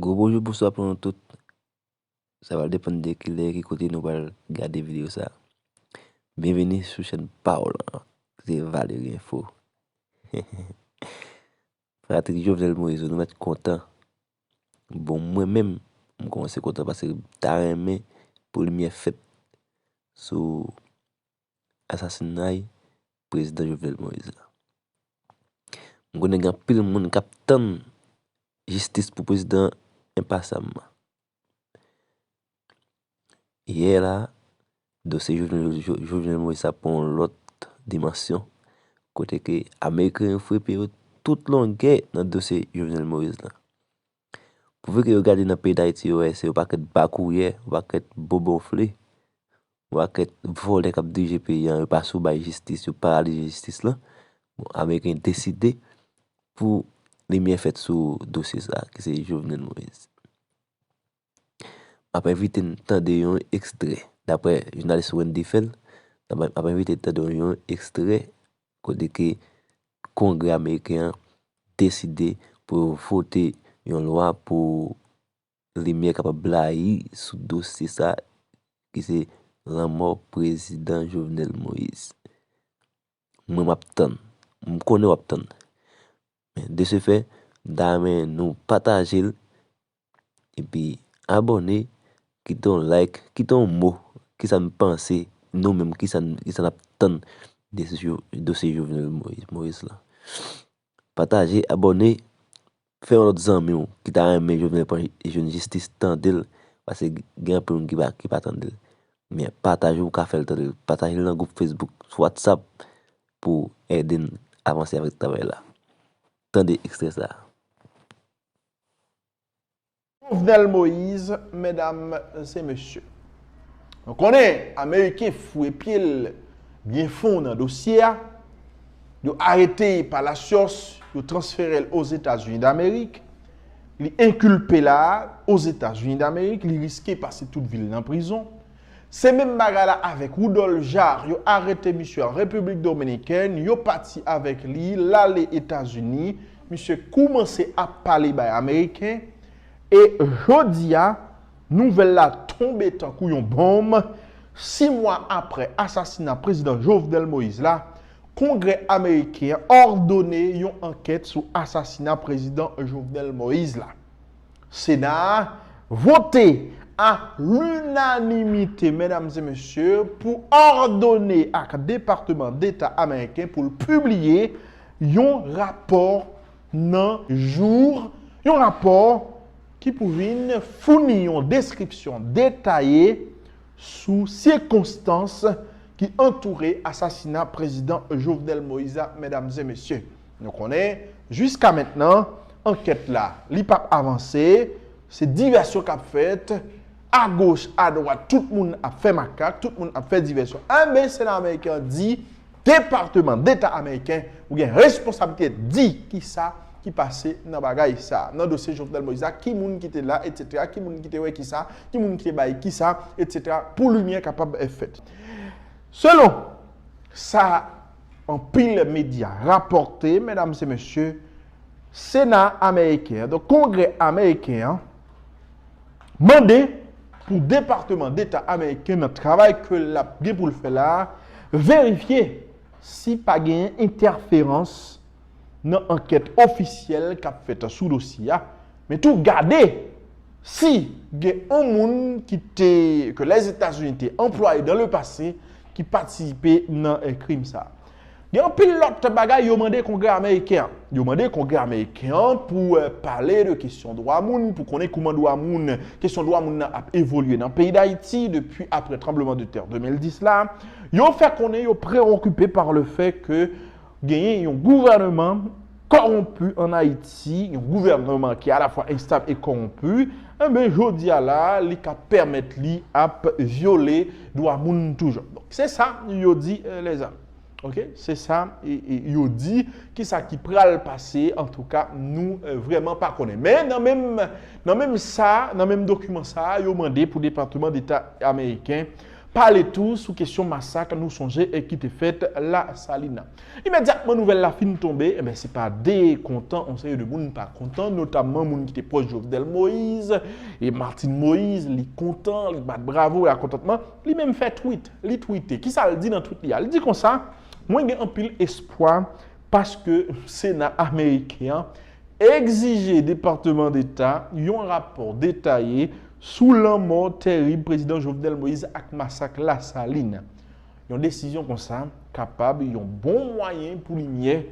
Gwo bonjou bonswa pou nou tout. Sa va depann de ki lè, ki kote nou pral gade videyo sa. Byenveni sou chèn pa w lan, ki se Valery Info. Fanatik Jovenel Moise yo, nou mèt kontan. Bon mwen menm, m kòmanse kontan paske m ta renmen pou limyè fèt sou asasinay prezidan Jovenel Moïse la. M konnen gen anpil moun k ap tann jistis pou prezidan an enpasyamman. Yè la, dosye Jovenel Moïse sa pran yon lòt dimansyon kote ke ameriken yo frepe yo tout longè nan dosye Jovenel Moïse la. Pouvi ke yo gade nan peyi dayiti yo wè se yon pakèt bakouyè, yon pakèt bobonfle, yon pakèt volè kap dirije peyi an, yo pa sou bay jistis, yo paralize jistis lan, bon ameriken deside pou limyè fèt sou dosye sa ki se Jovenel Moise. Map envite n tande yon ekstrè daprè jounalis Wendy Phèl, map envite n tande yon ekstrè Kote ke Kongrè Ameriken an deside pou yo vote yon lwa pou limyè kapab blayi sou dosye sa ki se lanmò Prezidan Jovenel Moïse. Mwen map tann. M konnen wap tann. De se fè, m ta renmen nou pataje l epi abòne, kite yon like, kite yon mo, kisa n panse nou menm, kisa n ap tann de dosye Jovenel Moïse la. Pataje, abòne, fè yon lòt zanmi w ki ta renmen Jovenel pran jwenn jistis tande l, pase gen anpil moun ki pa tande l. Men pataje ou ka fè l tande l. Pataje l nan gwoup Facebook, sou WhatsApp. pou w ede n avanse avèk travay la. Tande ekstrè sa a. Jovenel Moïse, medam e mesye. Nou konnen ameriken fwe pye l byen fon nan dosye a. Yo arete Palacios, yo transfere l Ozetazini Damerik. Li enkilpe la Ozetazini Damerik, li riske pase tout vi l nan prizon. Se menm bagay la avèk Rudolph Jaar, yo arete misye an Repiblik Dominikèn, yo pati avèk li, l ale Etazini, misye koumanse ap pale bay Ameriken, e jodi a, nouvèl la tonbe tankou yon bonm, si mwa aprè asasina Prezidan Jovenel Moïse la, Kongrè Ameriken an òdone yon ankèt sou asasina Prezidan Jovenel Moïse la. Sena a vote a lunanimite, medam e mesye, pou òdone ak Departeman Deta Ameriken pou l pibliye yon rapò nan jou, yon rapò ki pou vin founi yon deskripsyon detaye sou sikonstans ki antoure asasina Prezidan Jovenel Moïse la, medam e mesye. Nou konnen, jiska mentnan, ankèt la, li pap avanse, se divèsyon k ap fèt, agoch, adwat, tout moun ap fè makak, tout moun ap fè divèsyon. Enben, Sena ameriken an di, Departeman Deta ameriken, ou gen responsablite di ki sa ki pase nan bagay sa a, nan dosye Jovenel Moïse la, ki moun ki te la, etsetera, ki moun ki te wè ki sa, ki moun ki te bay ki sa, etsetera, pou limyè kapab fèt. Selon sa. Anpil medya rapòte, medam se mesye, Sena ameriken an, donk Kongrè ameriken an, mande pou Departeman Deta ameriken nan travay ke l ap gen pou l fè la a, verifye si pa genyen entèferans nan ankèt ofisyèl kap fèt sou dosye a, men tou gade si gen on moun ki te ke Lèzetazini te anplwaye dan le pase ki patisipe nan krim sa. Gen anpil lòt bagay yo mande Kongrè ameriken an. Yo mande Kongrè ameriken an pou pale de kesyon dwa moun, pou konnen kouman dwa moun, kesyon dwa moun nan ap evolye nan peyi Dayiti depi apre tranbleman de tè 2010 la. Yo fè konnen yo preokipe par le fè ke Genyen yon gouvèneman kòwonpi an Ayiti, yon gouvèneman ki alafwa enstab e kòwonpi, enben jodi a la a li ka pèmèt li ap vyole dwa moun toujan. Donk se sa yo di lèzami. Ok, se sa yo di, ki sa ki pral pase antouka nou vrèman pa konnen. Men nan menm nan menm sa, nan menm dokiman sa a yo mande pou Depatman Deta Ameriken Pale tou sou kesyon masak nou sonje e ki te fèt La Salina. Imedyatman nouvèl la fin tonbe, se pa de kontan yon seri de moun pa kontan, notamman moun ki te pwòch Jovenel Moise e Martine Moise, li kontan, li bat bravo, la kontantman, li menm fè tweet, li twite. Ki sa l di nan tweet li a? Li di konsa, Mwen gen anpil espwa paske Sena ameriken an Egzije Departeman Deta yon rapò detaye sou lanmò terib Prezidan Jovenel Moïse ak masak Lasalin. Yon desizyon konsa kapab yon bon mwayen pou limyè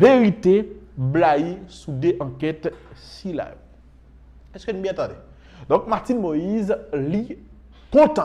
verite blayi sou 2 ankèt sila yo. Èske n byen tande? Donk Martine Moïse li kontan.